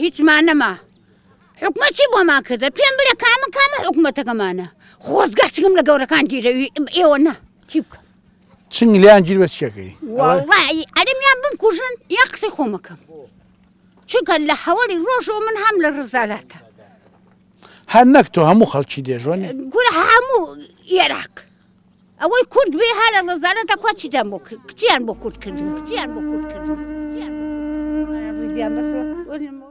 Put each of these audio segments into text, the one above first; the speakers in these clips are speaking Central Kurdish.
هیچمان نەما حکومە چی بۆمان کردە پێم بلێ کامە کامە حکوومەتەکەمانە خۆزگە چگم لە گەورەکان گیرەوی ئێوە نا چی بکە چنگ لیان گیر بە چیەکەی ئەرمیان بم کوژن یا قسەی خۆمەکەم چونکە لە هەوەری ڕۆژەوە من هەم لە ڕزالاتە هەر نەک تۆ هەموو خەڵکی دێژوەن گورە هەموو عێراق ئەوەی کورد بێ هەر لە ڕزانە دەخوا چیتان بۆ کرد کچیان بۆ کورد کردن کچیان بۆ کورد کردن کچیان بۆ کورد کردن. ڕیزیان بەخوا.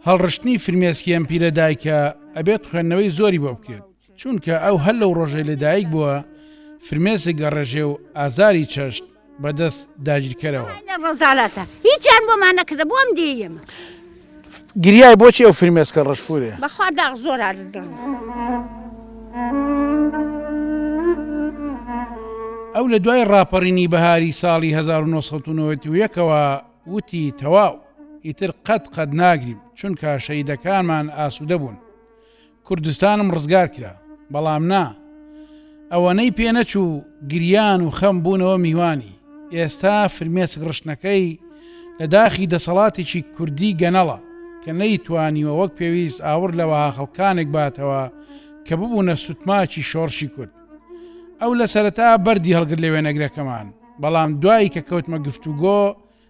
هەڵڕشتنی فرمێسکی ئەم پیرە دایکە ئەبێت خوێندنەوەی زۆری بۆ بکرێت چونکە ئەو هەر لەو ڕۆژەی لە دایک بووە فرمێسک گەڕێژێ و ئازاری چەشت بەدەست داگیرکەرەوە. ئەوانە ڕەزالەتە هیچیان بۆمان نەکردە بۆم دێی ئێمە. گریای بۆچی ئەو فرمێسکە ڕەشپورێ. بەخوا داخ زۆر ئاردم. ئەو لە دوای ڕاپەڕینی بەهاری ساڵی 1991ەوە وتی تەواو، ئیتر قەت قەت ناگریم، چونکە شەهیدەکانمان ئاسوودە بوون. کوردستانم ڕزگار کرا بەڵام نا ئەوەنەی پێ نەچوو گریان و خەم بوونەوە میوانی ئێستا فرمێسک ڕشتنەکەی لە داخی دەسەڵاتێکی کوردی گەنەڵە کە نەیتوانیوە وەک پێویست ئاوڕ لە وەها خەڵکانێک باتەوە کە ببوونە سوتماکی شۆڕشی کورد ئەو لە سەرەتا بەردی هەڵگر لە وێنەگرەکەمان بەڵام دوایی کە کەوتمە گفتوگۆ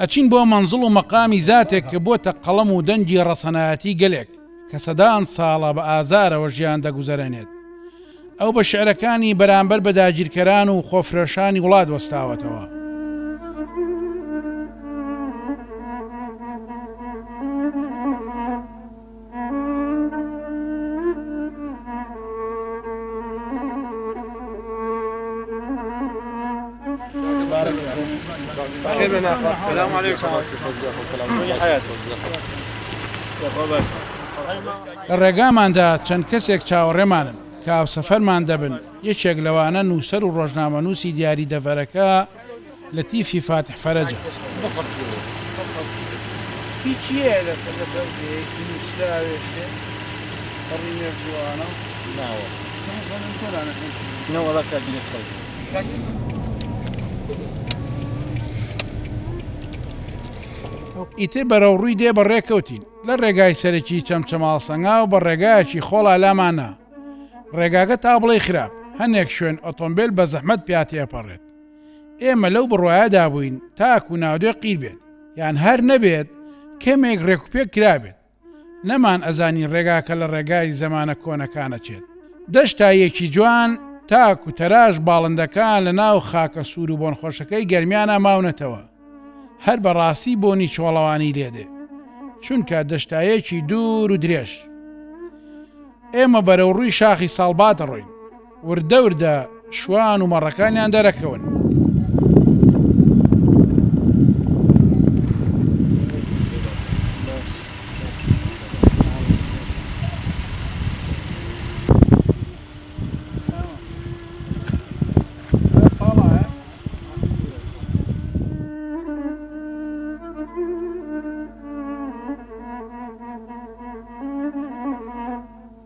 ئەچین بۆ مەنزڵ و مەقامی زاتێک کە بۆتە قەڵەم و دەنگی ڕەسەنایەتی گەلێک کە سەدان ساڵە بە ئازارەوە ژیان دەگوزەرێنێت. ئەو بە شعرەکانی بەرامبەر بە داگیرکەران و خۆفرۆشانی وڵات وەستاوەتەوە. لە ڕێگاماندا چەند کەسێک چاوەڕێمانن کە هاوسەفەرمان دەبن، یەکێک لەوانە نووسەر و ڕۆژنامەنووسی دیاری دەڤەرەکە، لەتیفی فاتح فەرەجە. ئیتر بەرەوڕووی دێ بەڕێ کەوتین لە ڕێگای سەرەکی چەمچەماڵ سەنگاو بە ڕێگایەکی خۆڵا لامانە ڕێگاگە تا بڵێ خراپ هەنێک شوێن ئۆتۆمبیل بە زەحمەت پیا تێپەڕێت ئێمە لەو بڕوایەدا بووین تاکو ناودێ قیر بێت یان هەر نەبێت کەمێک ڕێکوپێک کرابێت نەمان ئەزانی ڕێگاکە لە ڕێگای زەمانە کۆنەکانەچێت دەشتایەکی جوان تاکو تەراش باڵندەکان لە ناو خاکە سوور و بۆنخۆشەکەی گەرمیانە ماونەتەوە هەر بەڕاستی بۆنی چۆڵەوانی لێدێ چونکە دەشتایەکی دوور و درێژ ئێمە بەرەو ڕووی شاخی ساڵبات ڕۆین وردە وردە شوان و مەڕەکانیان دەرەکەون.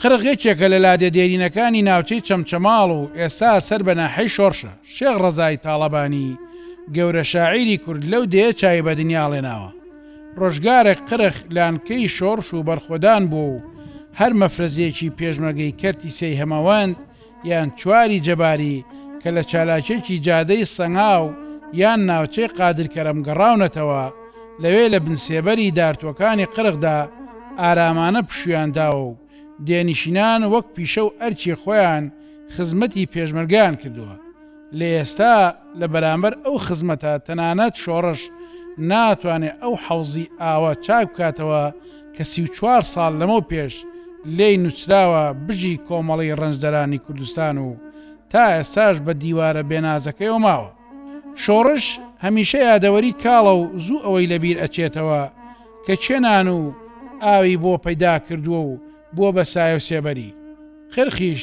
قرق یەکێکە لە لادێ دێرینەکانی ناوچەی چەمچەماڵ و ئێستا سەر بە ناحیەی شۆڕشە. شێخ ڕەزای تاڵەبانی گەورە شاعیری کورد لەو دێیە چاوی بە دنیا ڵێناوە. ڕۆژگارێک قرق لانکەی شۆڕش و بەرخۆدان بووە و هەر مەفرەزەیەکی پێشمەرگەی کەرتی سێی هەمەوەند، یان چواری جەباری کە لە چالاکیەکی جادەی سەنگاو یان ناوچەی قادر کەرەم گەڕاونەتەوە، لەوێ لە بن سێبەری دارتووەکانی قرخدا ئارامانە پشوویان داوە و دێنشینان وەک پیشە و ئەرکی خۆیان خزمەتی پێشمەرگەیان کردووە. لە ئێستا لە بەرامبەر ئەو خزمەتە تەنانەت شۆڕش ناتوانێت ئەو حەوزی ئاوە چاک بکاتەوە کە سی و چوار ساڵ لەمەو پێش لێی نوچراوە بژی کۆمەڵی ڕەنجدەرانی کوردستان و تا ئێستاش بە دیوارە بێنازەکەیەوە ماوە. شۆڕش هەمیشە یادەوەری کاڵە و زوو ئەوەی لە بیر ئەچێتەوە کە کێ نان و ئاوی بۆ پەیدا کردووە و بووە بە سایەو سێبەری قرخیش،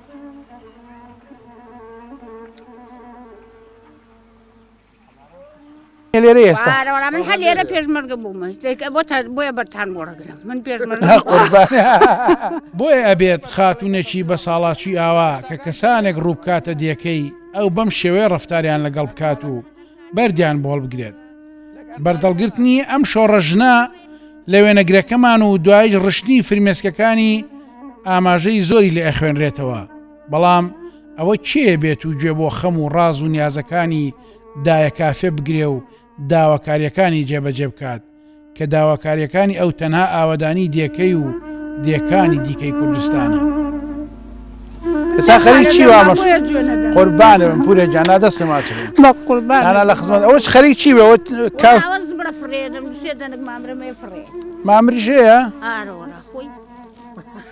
بۆیە ئەبێت خاتونێکی بە ساڵاچی ئاوا کە کەسانێک ڕووبکاتە دیەکەی ئەو بەم شێوەیە ڕفتاریان لەگەڵ بکات و بەردیان بۆڵ بگرێت بەردەڵگرتنی ئەم شۆڕە ژنە لە وێنەگرەکەمان و دوایش ڕشتنی فرمێسکەکانی ئاماژەی زۆری لێ ئەخوێنرێتەوە بەڵام ئەوە کێ بێت و گوێ بۆ خەم و ڕاز و نیازەکانی دایە کافێ بگرێ و داواکاریەکانی جێبەجێ بکات کە داواکارییەکانی ئەو تەنها ئاوەدانی دێکەی و دێکانی دیکەی کوردستانە. ئێستا خەریک چی وامەش قوربانم پورە جانا دەستم ماچم بە قوربان ئانا لە خزمەت ئەوش خەریک چی بە وت کا مامرژەیە ئارۆرە خۆی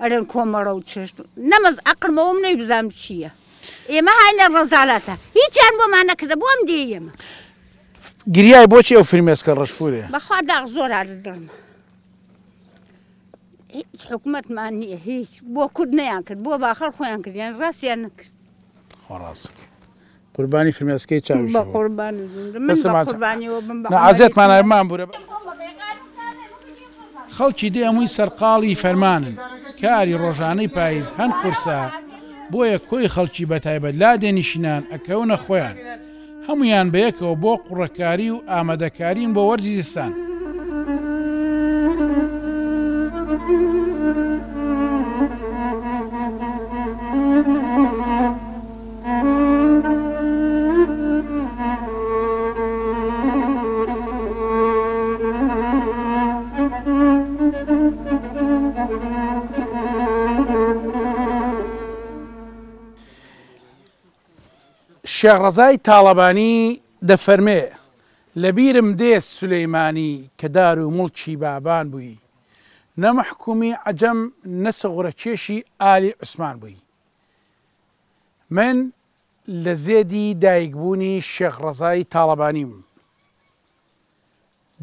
ئەرێن کۆمەڵە و چێشت نەمەز ئەقرمەوەم نەی بزانم چییە ئێمە هاینە ڕەزالاتە هیچیان بۆمان نەکردە بۆم دێ ئێمە گریای بۆچی ئەو فرمێسکە ڕشپورێ بەخوا داغ زۆر ئارد دڵم هیچ حکوومەتمان نییە هیچ بۆ کورد نەیان کرد بۆ باخەڵ خۆیان کردیان ڕاستیان نەکرد خۆڕاستکە قوربانی فرمێسکەی چاویشی بم. خەڵکی دێ هەمووی سەرقاڵی فەرمانن. کاری ڕۆژانەی پایز هەن قورسە، بۆیە کۆی خەڵکی بەتایبەت لادێ نیشینان ئەکەونە خۆیان. هەموویان بەیەکەوە بۆ قوڕەکاری و ئامادەکارین بۆ وەرزی زستان. شێخ ڕەزای تاڵەبانی دەفەرمێ، لەبیرم دێ سولەیمانی کە دار و موڵکی بابان بووی، نە مەحکوومی عەجەم نە سغورەکێشی ئالی عوسمان بووی. من لە زێدی دایک بوونی شێخ ڕەزای تاڵەبانیم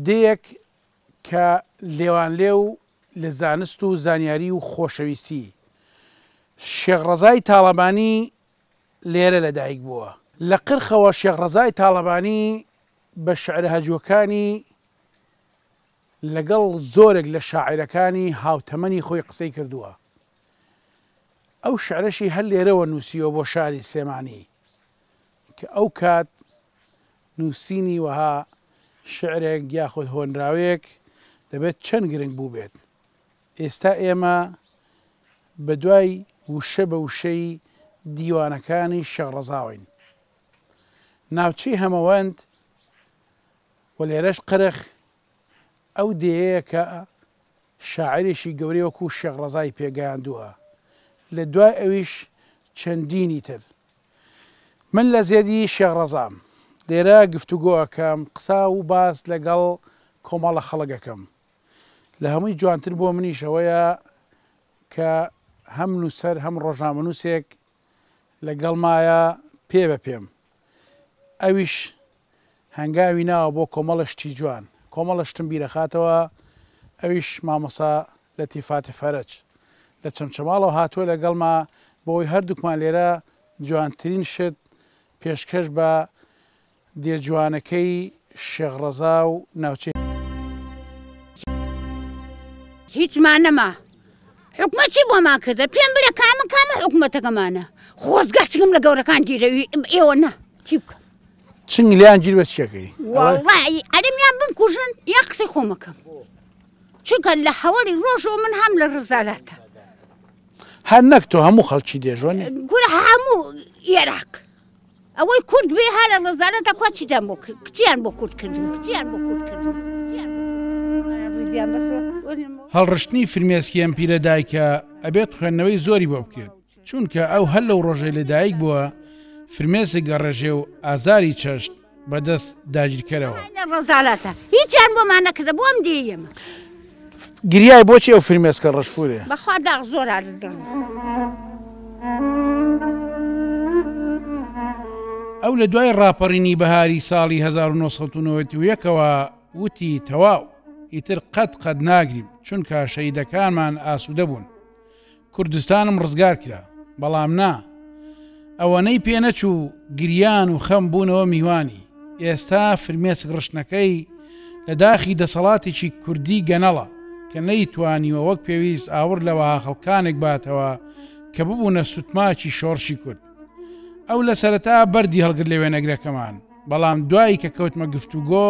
دێیەک کە لێوانلێو لە زانست و زانیاری و خۆشەویستی شێخ ڕەزای تاڵەبانی لێرە لە دایک بووە. لە قرخەوە شێخ ڕەزای تاڵەبانی بە شعرە هەجوەکانی لەگەڵ زۆرێک لە شاعیرەکانی هاوتەمەنی خۆی قسەی کردووە. ئەو شعرەشی هەر لێرەوە نووسیوە بۆ شاری سلێمانی کە ئەو کات نووسینی وەها شعرێک یاخود هۆنراوەیەک دەبێت چەند گرنگ بوو بێت ئێستا ئێمە بە دوای وشە بە وشەی دیوانەکانی شەڕەزاوین ناوچەی هەمەوەند و لێرەش قرخ ئەو دێیەیە کە شاعیرێکی گەورەی وەکوو شێخ ڕەزای پێ گەیاندووە، لە دوای ئەویش چەندینی تر. من لە زێدی شێخ ڕەزام، لێرە گفتوگۆ ئەکەم، قسە و باس لەگەڵ کۆمەڵە خەڵک ئەکەم. لە هەمووی جوانتر بۆ منیش ئەوەیە کە هەم نووسەر هەم ڕۆژنامەنووسێک لەگەڵمایە پێ بە پێم. ئەویش هەنگاوی ناوە بۆ کۆمەڵە شتی جوان. کۆمەڵە شتم بیرەخاتەوە ئەویش مامۆسا لەتیفاتی فەرەج. لە چەمچەماڵەوە هاتووە لەگەڵما بۆ ئەوەی هەردووکمان لێرە جوانترین شت پێشکەش بە دێ جوانەکەی شێخ ڕەزا و ناوچەی. هیچمان نەما حکومەت چی بۆمان کردە پێم بلە کامە کامە حکومەتەکەمانە خۆزگە چگم لە گەورەکان گیرەوی ئێوە نا چی بکەم چنگ لیان گیر بە چیەکەی ئەرمیان بم کوژن یا قسەی خۆمەکەم چونکە لە هەوەری ڕۆژۆ من هەم لە ڕزالاتە هەر نەک تۆ هەموو خەڵکی دێژۆن گورە هەموو عێراق ئەوەی کورد بێ هەر لە ڕزانە دەکوە چیدان بۆ کچیان بۆ کورد کردن کچیان بۆ کورد کردن هەڵڕشتنی فرمێسکی ئەم پیرە دایکە ئەبێت خوێندنەوەی زۆری بۆ بکرێت چونکە ئەو هەر لەو ڕۆژەی لەدایک بووە فرمێسک گەڕێژێ و ئازاری چەشت بەدەست داگیرکەرەوە ڕزالاتە هیچیان بۆمان نەکردە بۆم دێ ئێمە. گریای بۆچی ئەو فرمێسکە ڕەشپورێ. بەخوا داخ زۆر ئازدم. ئەو لە دوای ڕاپەڕینی بەهاری ساڵی 1991ەوە وتی تەواو ئیتر قەت قەت ناگریم چونکە شەیدەکانمان ئاسوودە بوون کوردستانم ڕزگار کرا بەڵام نا ئەوەنەی پێ نەچوو گریان و خەم بوونەوە میوانی ئێستا فرمێسک ڕشتنەکەی لە داخی دەسەڵاتێکی کوردی گەنەڵە کە نەیتوانیوە وەک پێویست ئاوڕ لە وەها خەڵکانێک باتەوە کە ببوونە سوتماکی شۆڕشی کورد ئەو لە سەرەتا بەردی هەڵگر لە وێنەگرەکەمان بەڵام دوایی کە کەوتمە گفتوگۆ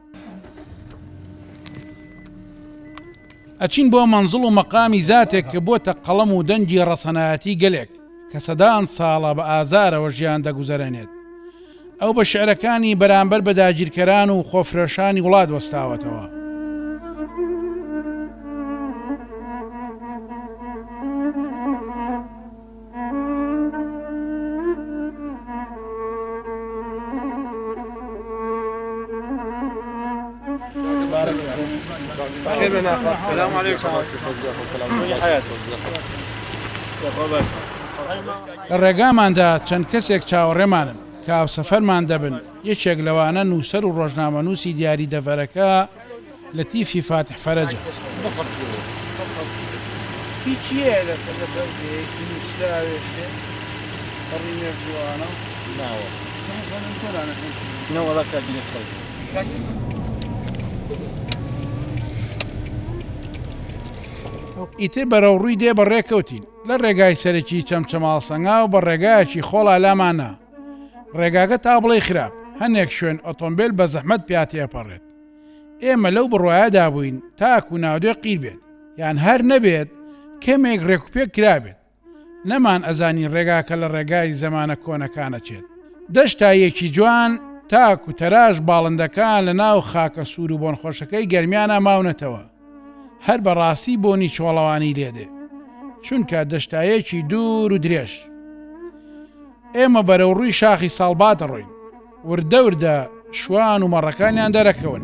ئەچین بۆ مەنزڵ و مەقامی زاتێک کە بۆتە قەڵەم و دەنگی ڕەسەنایەتی گەلێک کە سەدان ساڵە بە ئازارەوە ژیان دەگوزەرێنێت. ئەو بە شعرەکانی بەرامبەر بە داگیرکەران و خۆفرۆشانی وڵات وەستاوەتەوە. لە ڕێگاماندا چەند کەسێک چاوەڕێمانن کە هاوسەفەرمان دەبن، یەکێک لەوانە نووسەر و ڕۆژنامەنووسی دیاری دەڤەرەکە، لەتیفی فاتح فەرەجە. ئیتر بەرەوڕووی دێ بەڕێ کەوتین لە ڕێگای سەرەکی چەمچەماڵ سەنگاو بە ڕێگایەکی خۆڵا لامانە ڕێگاگە تا بڵێ خراپ هەنێک شوێن ئۆتۆمبیل بە زەحمەت پیا تێپەڕێت ئێمە لەو بڕوایەدا بووین تاکو ناودێ قیر بێت یان هەر نەبێت کەمێک ڕێکوپێک کرابێت نەمان ئەزانی ڕێگاکە لە ڕێگای زەمانە کۆنەکانەچێت دەشتایەکی جوان تاکو تەراش باڵندەکان لە ناو خاکە سوور و بۆنخۆشەکەی گەرمیانە ماونەتەوە هەر بەڕاستی بۆنی چۆڵەوانی لێدێ چونکە دەشتایەکی دوور و درێژ ئێمە بەرەو ڕووی شاخی ساڵبات ڕۆین وردە وردە شوان و مەڕەکانیان دەرەکەون.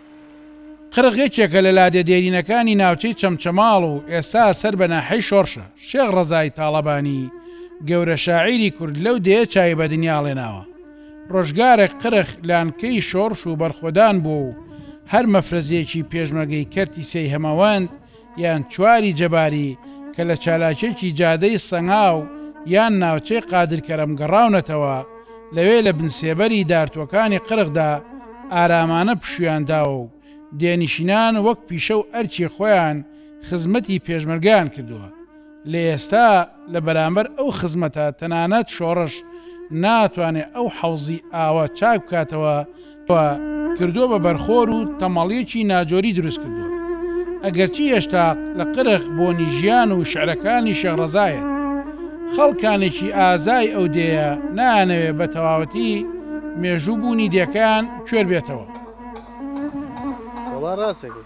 قرق یەکێکە لە لادێ دێرینەکانی ناوچەی چەمچەماڵ و ئێستا سەر بە ناحیەی شۆڕشە. شێخ ڕەزای تاڵەبانی گەورە شاعیری کورد لەو دێیە چاوی بە دنیا ڵێناوە. ڕۆژگارێک قرق لانکەی شۆڕش و بەرخۆدان بووە و هەر مەفرەزەیەکی پێشمەرگەی کەرتی سێی هەمەوەند، یان چواری جەباری کە لە چالاکیەکی جادەی سەنگاو یان ناوچەی قادر کەرەم گەڕاونەتەوە، لەوێ لە بن سێبەری دارتووەکانی قرخدا ئارامانە پشوویان داوە و دێنشینان وەک پیشە و ئەرکی خۆیان خزمەتی پێشمەرگەیان کردووە. لە ئێستا لە بەرامبەر ئەو خزمەتە تەنانەت شۆڕش ناتوانێت ئەو حەوزی ئاوە چاک بکاتەوە کە کردووە بە بەرخۆر و تەمەڵیەکی ناجۆری دروست کردووە ئەگەرچی هێشتا لە قرخ بۆنی ژیان و شعرەکانی شێخ ڕەزایەت خەڵکانێکی ئازای ئەو دێیە نایانەوێت بە تەواوەتی مێژوو بوونی دێکەیان کوێر بێتەوە. وەڵا ڕاستەکەی.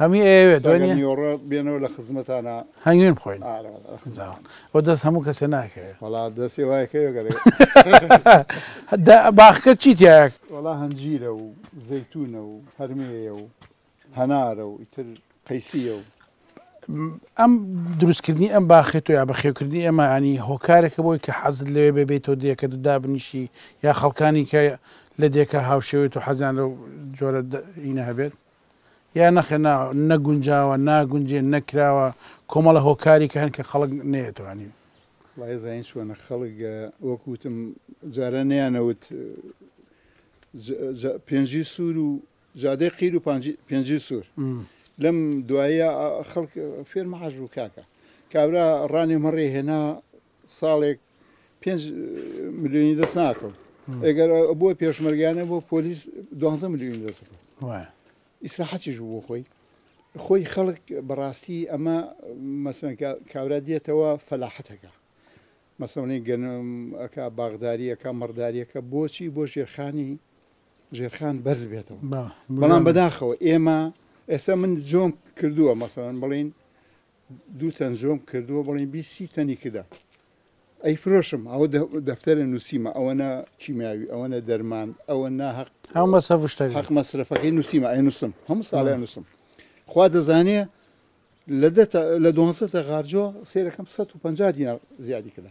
هەموی ئەیەوێت وە نیە؟ نیۆڕۆ بێنەوە لە خزمەتانا هەنگوین بخۆین وە دەست هەموو کەسێ ناکەوێت وڵا دەسێ وایکەوێ گەرێ باخکە چی تایە؟ وڵا هەنجیرە و زەیتونە و هەرمەیە و هەنارە و ئیتر قەیسیە و ئەم دروستکردنی ئەم باخێت و یا بەخێوکردنی ئەمانی هۆکارێکە بۆی کە حەزت لەوێ ببیت و دێکە دو دابنیشی یا خەڵکانی کە لە دێکە هاوشێوێت و حەزیان لەو جۆرە هینە هەبێت یا نەخێر نا نەگونجاوە ناگونجێ نەکراوە کۆمەڵە هۆکاری کە هەن کە خەڵک نەیەتوانی وایزانین چۆنە خەڵک وەکوتم جارە نیانەوت پێنجی سوور و جادەی قیر و پێنجی سوور لەم دوایە خەڵک فێرمەحاش بوو کاکە کابرا ڕانێ مەڕێ هێنا ساڵێک پێنج ملیۆنی دەست ناکەم ئەگەر بۆ پێشمەرگیانە بۆ پۆلیس دوانزە ملیۆنی دەست ئیسراحەتیش بۆ خۆی خۆی خەڵک بەڕاستی ئەمە مەسن کابرا دێتەوە فەلاحەتەکە مەسەڵی گەنم ئەک باغداریەکە مەڕداریەکە بۆچی بۆ ژێرخانی ژێرخان بەرز بێتەوە بەڵام بەداخەوە ئێمە ئێستا من جۆم کردووە مەسەن بڵین دوو تەن زۆم کردووە بڵێن بی سی تەنی کردە ئەی فرۆشم ئەوە دەفتەرە نووسیمە ئەوەنە کیمیاوی ئەوەنە دەرمان ئەوە ناهق ئەو مەسەفشتە حق مەسرفەکەی نووسیمە ئەی نووسم هەموو ساڵیان نووسم خوا دەزانێ لە لە دوسە غارجۆ سێرەکەم 150 دینا زیادی کرا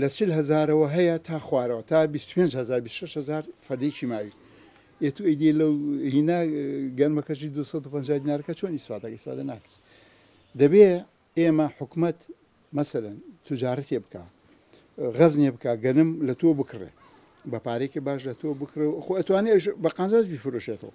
لە چل هەزارەوە هەیە تا خوارەوە تا بیست و پێنج هەزار بیست و شەش هەزار فەردەی کیماوی یە تو ئەیدی لەو هینا گەرمەکەشی دوو سەد و پەنجا دینارەکە چۆن ئیسفادە ئیسفادە ناکەس دەبێ ئێمە حکومەت مەسەلەن تجارەتێ بکا غەزنێ بکا گەنم لە تۆ بکڕێ بە پارێکی باش لە تۆ بکڕێ و خۆ ئەتوانێ بە قازانج بیفرۆشێتەوە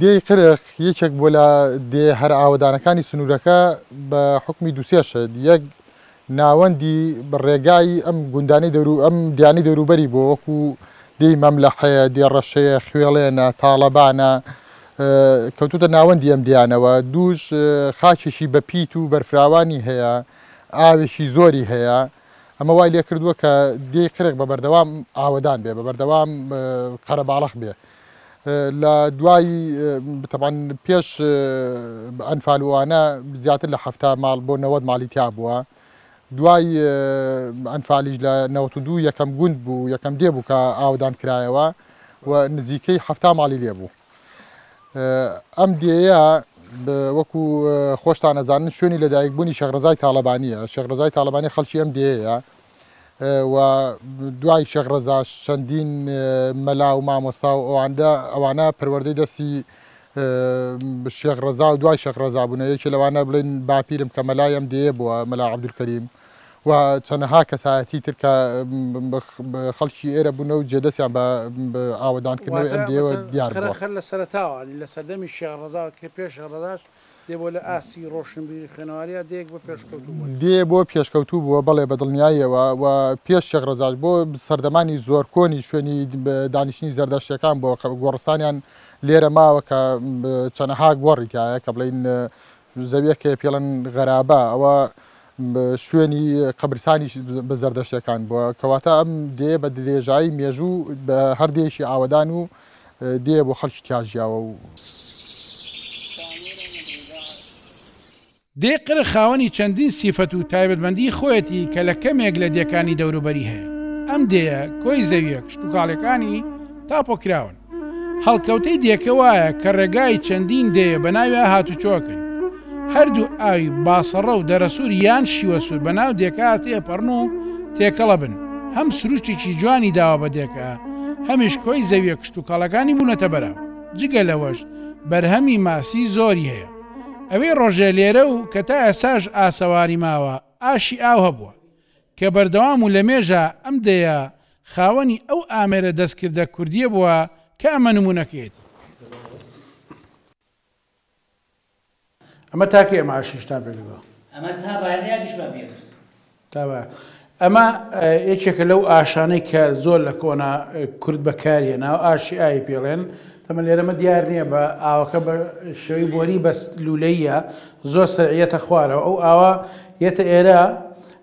دێی قرق یەکێک بووە لە دێ هەرە ئاوەدانەکانی سنوورەکە بە حوکمی دوو سێ شت، یەک ناوەندی ڕێگای ئەم گوندانەی دەورو ئەم دێیانەی دەوروبەری بووە وەکوو دێی مەملەحەیە، دێ ڕەشەیە، خوێڵێنە، تاڵەبانە کەوتووتە ناوەندی ئەم دێیانەوە، دووش خاکێکی بە پیت و بەرفراوانی هەیە، ئاوێکی زۆری هەیە، ئەمە وای لێ کردووە کە دێی قرق بە بەردەوام ئاوەدان بێ، بە بەردەوام قەرەباڵخ بێ. لە دوای تەبعەن پێش ئەنفال وانە زیاتر لە حەفتا ماڵ بۆ نەوەد ماڵی تیا بووە دوای ئەنفالیش لە نەوەت و دوو یەکەم گوند بوو یەکەم دێ بوو کە ئاودان کرایەوە و نزیکەی حەفتا ماڵی لێ بوو ئەم دێە وەکو خۆشتان ئەزانن شوێنی لەدایکبوونی شەغرەزای تاالبانیە شەغرەزای تاالبانی خەڵکی ئەم دێەیە و دوای شێخ ڕەزاش چەندین مەلا و مامۆستا و ئەواندا ئەوانە پەروەردەی دەستی شێخ ڕەزا و دوای شێخ ڕەزا بوونە یەکێ لەوانە بڵین باپیرم کە مەلای ئەم دێیە بووە مەلا عەبدولکەریم و چەندەها کەسایەتی تر کە خەڵکی ئێرە بوون و جێدەستیان بە ئاوەدانکردنەوەی ئەم دێوە دیار بووە خەر لە سەرتاوە لە سەردەمی شێخ ڕەزا کە پێش ڕەزاش دێ بۆ لە ئاستی ڕۆشنبیری و خوێنەواریا دێیەک بۆ پێشکەوتوو بوون. دێ بۆ پێشکەوتوو بووە، بەڵێ بە دڵنیاییەوە و پێش شێخ ڕەزاش بۆ سەردەمانی زۆر کۆنی شوێنی دانیشتنی زەردەشتیەکان بووە کە گۆڕستانیان لێرە ماوە کە چەنەها گۆڕی تایە کە بڵین زەویەک هەیە پێڵن غەرابە ئەوە شوێنی قەبرسانی بە زەردەشتەکان بووە کەواتە ئەم دێ بە درێژایی مێژوو بە هەردێکی ئاوەدان و دێ بۆ خەڵکی کاژیاوە و. دێی قرخ خاوەنی چەندین سیفەت و تایبەتمەندیی خۆیەتی کە لە کەمێک لە دێکانی دەوروبەری هەیە. ئەم دێیە کۆی زەوییە کشتوکاڵیەکانی تاپۆ کراون. هەڵکەوتەی دێکە وایە کە ڕێگای چەندین دێیە بەناویا هاتوچۆ ئەکەن. هەردوو ئاوی باسەڕە و دەرەسوور یان شیوەسوور بە ناو دێکا تێپەڕن و تێکەڵە بن، هەم سروشتێکی جوانی داوە بە دێکا، هەمیش کۆی زەوییە کشتوکاڵەکانی بوونەتە بەراو. جگە لەوەش بەرهەمی ماسی زۆری هەیە. ئەوێ ڕۆژێ لێرە و کە تا ئێستاش ئاسەواری ماوە، ئاشی ئاو هەبووە، کە بەردەوام و لەمێژە ئەم دێیە خاوەنی ئەو ئامێرە دەستکردە کوردییە بووە کە ئەمە نموونەکەیەتی. ئەمە تاکەی ئەم عەرشیشتان پێ کردووە. ئەمە تا بایەنە یادیشمان پێ کرد. تا بایەنە. ئەمە یەکێکە لەو ئاشانەی کە زۆر لە کۆنا کورد بەکاری هێناوە، ئاشی ئاوی پێ ڵێن. تەمەن لێرەمە دیار نییە بە ئاوەکە بە شێوەی بۆری بەس لوولەییە، زۆر سەرعییەتە خوارەوە. ئەو ئاوە یەتە ئێرە،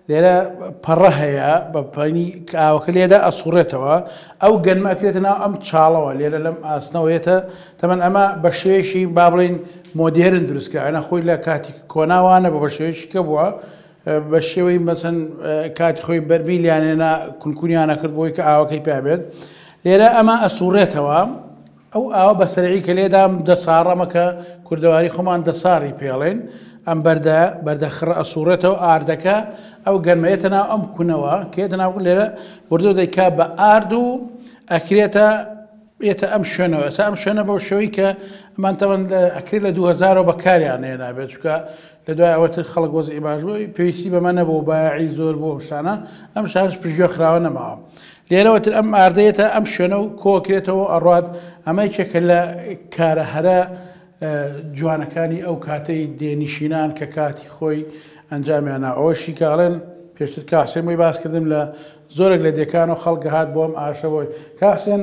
لێرە پەڕە هەیە بە پەنی کاوەکە لێدا ئەسوڕێتەوە ئەو گەنمە ئەکرێتە ناو ئەم چاڵەوە لێرە لەم ئاسنەوەیەتە تەمەن ئەمە بە شێشی با بڵین مۆدێرن دروستکراوەە خۆی لە کاتی کۆناوانە بە بە شێشی کە بووە بە شێوەی مەسن کاتی خۆی بەرمیلیانێنا کونکوریانە کرد بۆی کە ئاوەکەی پابێت لێرە ئەمە ئەسوڕێتەوە ئەو ئاوە بە سەرعی کە لێدام دەساڕمە کە کوردەواری خۆمان دەساڕی پێڵێن، ئەم بەردە بەردە خڕە ئەسووڕێتەوە ئاردەکە، ئەو گەرمە یەتە ناو ئەم کونەوە کە یەتە ناو لێرە بردو دەیکا بە ئارد و ئەکرێتە یەتە ئەم شوێنەوە ئەسا ئەم شوێنە بەو شەوەی کە ئەمان تەوەن ئەکرێت لە 2000ەوە بەکاریان نێنابێت چکە لە دوای ئەوە تر خەڵک وەزعی باش بوو، پێویستی بەمە نەبوو، بایەعی زۆر بوو ئەم شتانە، ئەم شارەش پشتگوێ خراوە نەماوە. لێرەوە تر ئەم ئاردە یەتە ئەم شوێنە و کۆ ئەکرێتەوە و ئەڕوات، ئەمە یەکێکە لە کارە هەرە جوانەکانی ئەو کاتەی دێ نیشینان کە کاتی خۆی ئەنجامیان ناوە. ئەوەشی کە ئەڵێن، پێشتر کاک حسێن بۆی باس کردم لە زۆرێک لە دێکانەوە خەڵک ئەهات بۆ ئەم ئارشەوە، کاک حسێن،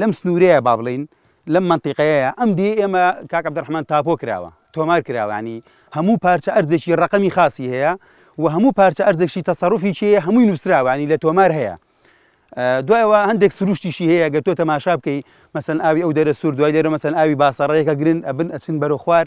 لەم سنوورەیە با بڵین لەم منتیقەیە ئەم دی ئێمە کاک عبدڕحمان تاپۆ کراوە تۆمار کراوانی هەموو پارچە ئەرزێکی ڕقمی خاصی هەیە و هەموو پارچە ئەرزێکی تەسەڕفی چیە هەمووی نووسراوانی لە تۆمار هەیە دوایەوە هەندێک سروشتیشی هەیە گەر تۆ تەماشا بکەی مەسن ئاوی ئەو دەرە سوور دوای دەرە مەسن ئاوی باسەڕەیەەکە گرن ئەبن ئەچن بەرە خوار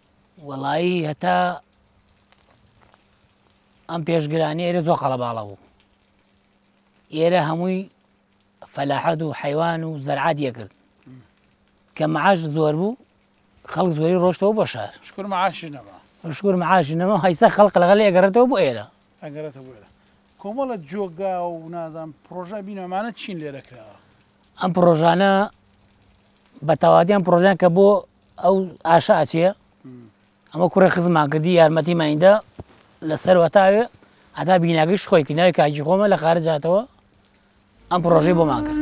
وەڵایی هەتا ئەم پێشگرانی ئێرە زۆ قەڵەباڵە بوو ئێرە هەمووی فەلاحەت و حیوان و زەرعات یەکرد کە معاش زۆر بوو خەڵک زۆری ڕۆشتەوە بۆ شار شکر معاش نەما شکر معاش نەما هەیسا خەڵق لەگەڵ ئەگەڕێتەوە بۆ ئێرە ئەگەڕێتە بۆێرە کۆمەڵە جۆگا و نازان پرۆژە بینەمانە چین لێرە کراوە ئەم پرۆژانە بە تەوادیان پرۆژیان کە بۆ ئەو ئاشە ئەچێ ئەمە کوڕێ خزمان کردی یارمەتی مایندە لە سەروەتاوێ ئەدا بیناگەیش خۆی کرد ناوی کاجی خۆمە لە خارجاتەوە ئەم پرۆژەی بۆمان کرد.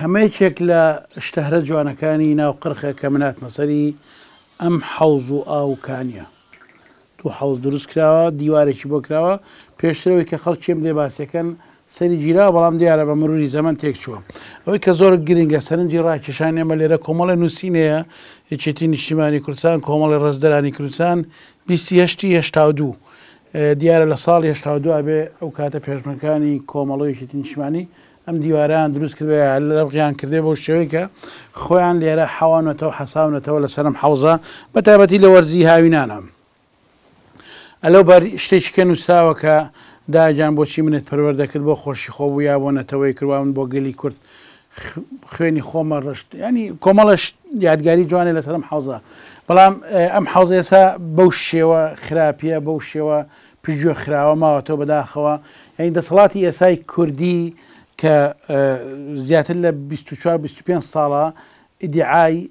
ئەمە یەکێک لە شتەهرە جوانەکانی ناو قرخە کە مناتمە سەری ئەم حەوز و ئاوکانە تو حەوز دروست کراوە دیوارێکی بۆ کراوە پێشترەوەی کە خەڵکیم دێ باسەکەن سەری گیرا بەڵام دیارە بە مروری زەمن تێک چووە ئەوەی کە زۆر گرنگە سەرنجی ڕاکیشان ئێمە لێرە کۆمەڵی نووسینەیە یەکێتی نیشتیمانی کوردستان کۆمەڵی ڕزدرانی کوردستان بیستی هشتی هشتا دوو دیارە لە ساڵی هەشتا و دو ئەبێ ئەو کاتە پێشمەرگەکانی کۆمەڵە و یەکێتی نیشتمانی ئەم دیوارەیان دروست کردبێ یا لەرغیان کردبێ بەو شێوەی کە خۆیان لێرە حەوانەتەوە و حەساونەتەوە لەسەر ئەم حەوزە بە تایبەتی لە وەرزی هاوینانە. ئەلەو بەر شتێکی کە نووسراوە کە دایەگیان بۆچی منت پەروەردە کرد بۆ خۆشی خۆ بوو یا بۆ نەتەوەی کرد وا من بۆ گەلی کورد خوێنی خۆمە ڕشت ینی کۆمەڵش یادگاری جوانێ لەسەر ئەم حوزە بەڵام ئەم حوزە ئێسا بەو شێوە خراپە بەو شێوە پژگوێ خراوە ماوەتەوە بەداخەوە یعنی دەسەڵاتی ئێسای کوردی کە زیاتر لە 24 25 ساڵە ئیدعای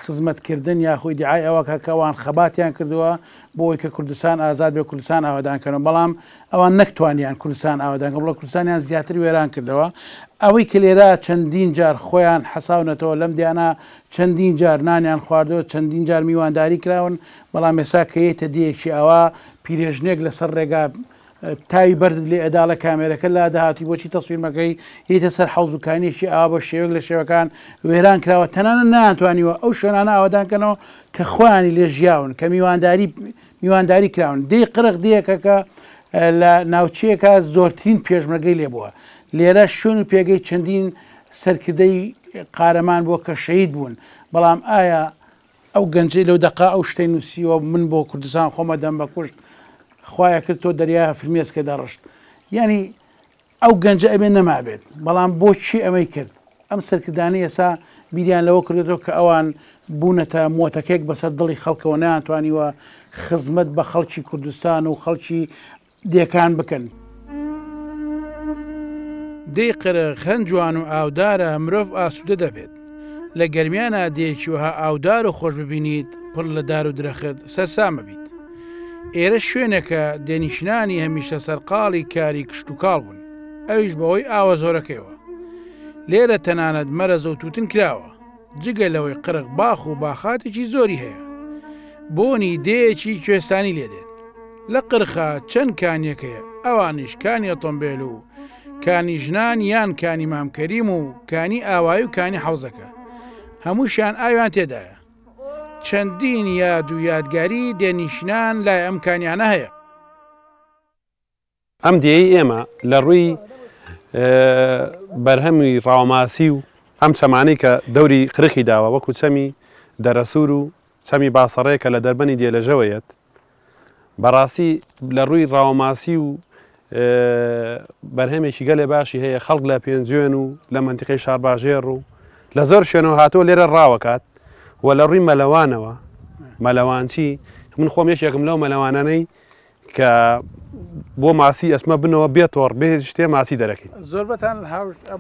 خزمەتکردن یاخۆ ئیدعای ئەوە کەکەوان خەباتیان کردووە بۆی کە کوردستان ئازاد بێ کوردستان ئاوادانکەنەوە بەڵام ئەوان نەک توانیان کوردستان ئاوەدان کەن بڵکو کوردستانیان زیاتر وێران کردەوە. ئەوەی کە لێرە چەندین جار خۆیان حەساونەتەوە لەم دیانا چەندین جار نانیان خواردوە چەندین جار میوانداری کراون بەڵام ئێسا کە یەیتە دێیەکی ئاوا پیرێژنێک لەسەر ڕێگا تاوی بەردت لێ ئەداڵە کامێرەکە لا داهاتی بۆچی تەسویر مەکەی یەیتە سەر حەوزوکانیەکی ئاوا بە شێوەک لە شێوەکان وێران کراوە تەنانە نانتوانیوە ئەو شوێنانە ئاوادان کەنەوە کە خۆیانی لێ ژیاون کە میوانداری میوانداری کراون دێی قرق دێیەکەکە لە ناوچەیەکە زۆرترین پێشمەگەی لێبووە لێرە شوێن و پێگەی چەندین سەرکردەی قارەمان بۆ کە شەید بوون بەڵام ئایا ئەو گەنجی لەو دقا ئەو شتەی نووسیوە من بۆ کوردستان خۆمە دەم بە کوشت خوایە کرد تۆ دەریا فرمێسکە دەڕشت ینی ئەو گەنجە ئەبێ نەمابێت، بەڵام بۆ چی ئەمەی کرد؟ ئەم سەرکردانەی ئێسا بیریان لەوە کردۆتەوە کە ئەوان بوونەتە مۆتەکەیەک بەسەر دڵی خەڵکەوە نەیانتوانیوە خزمەت بە خەڵکی کوردستان و خەڵکی دێکان بکەن. دەی قرخ هەن جوان و ئاودارە مرۆڤ ئاسوودە دەبێت. لە گەرمیانا دێیەکی وەها ئاودار و خۆش ببینیت پڕ لە دار و درەخت سەرسامە بیت ئێرە شوێنەکە دێنیشنانی هەمیشە سەرقاڵی کاری کشتتوکاڵ بوون ئەویش بەوەی ئاوە زۆرەکەیەوە لێرە تەنانەت مەرەزە و توتن کراوە جگە لەوەی قرق باخ و باخاتێکی زۆری هەیە بۆنی دێیەکی کوێسانی لێدێت لە قرخە چەند کانیەکەیە ئەوانیش کانی ئۆتۆمبێل و کانی ژنان یان کانی مام کەریم و کانی ئاوایی و کانی حەوزەکە هەمووشیان ئاویان تێدایە چەندین یاد و یادگاری دێنیشنان لای ئەم کانیانە هەیە ئەم دێی ئێمە لە ڕووی بەرهەمی ڕاوماسی و ئەم چەمانەی کە دەوری خرخی داوە وەکو چەمی دەرەسوور و چەمی باسەڕێ کە لە دەربەنی دێلەژەوە یەت، بەڕاستی لە ڕووی ڕاوەماسی و بەرهەمێکی گەلێ باشی هەیە، خەڵک لە پێنجوێن و لە مەنتیقەی شارباژێڕ و لە زۆر شوێنەوە هاتووە لێرە ڕاوەکات و لە ڕووی مەلەوانەوە، مەلەوانچی، من خۆم یەکێکم لەو مەلەوانانەی کە بۆ ماسی ئەسمە بنەوە بێ تۆڕ بێ شتێ ماسی دەرەکەین زۆر بەتان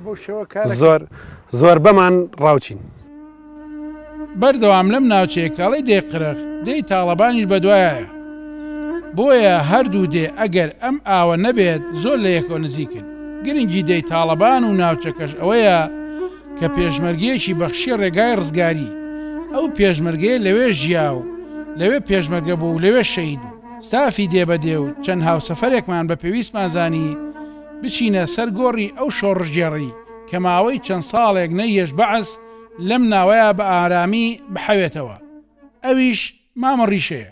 بۆ شێوە کار زۆر زۆر بەمان ڕاوچین. بەردەوام لەم ناوچەیە کاڵی دێ قرخ دێی تاڵەبانیش بەدوایایە بۆیە هەردوو دێ ئەگەر ئەم ئاوە نەبێت زۆر لە یەکەوە نزیکن گرنگی دێی تاڵەبان و ناوچەکەش ئەوەیە کە پێشمەرگەیەکی بەخشیە ڕێگای ڕزگاری ئەو پێشمەرگەیە لەوێ ژیا و لەوێ پێشمەرگە بوو و لەوێ شەهید بوو. ستافی دێ بە دێ و چەند هاوسەفەرێکمان بە پێویستمان زانی بچینە سەر گۆڕی ئەو شۆڕشگێڕی کە ماوەی چەند ساڵێک نەیهێشت بەعس لەم ناوەیا بە ئارامی بحەوێتەوە، ئەویش مامە ڕیشەیە.